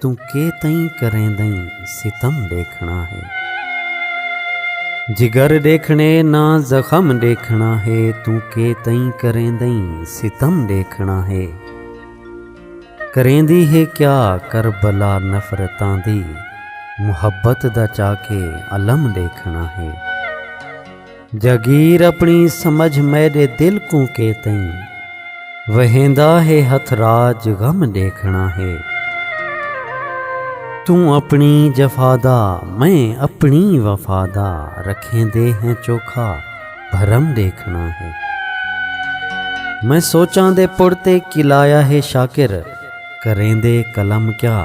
توں کے تئیں کریندئیں ستم ݙیکھݨا ہے جگر ݙیکھݨے نہ زخم ݙیکھݨا ہے توں کے تئیں کریندئیں ستم ݙیکھݨا ہے کریندی ہے کیا کربلا نفرتاں دی محبت دا چا کے الم ݙیکھݨا ہے جاگیر اپݨی سمجھ میݙے دل کوں کے تئیں وہیندا ہے ہتھ راج غم ݙیکھݨا ہے توں اپݨی جفا دا میں اپݨی وفا دا رکھیندے ہیں چوکھا بھرم ݙیکھݨا ہے میں سوچاں دے پڑ تے کلایا ہے شاکر کریندے قلم کیا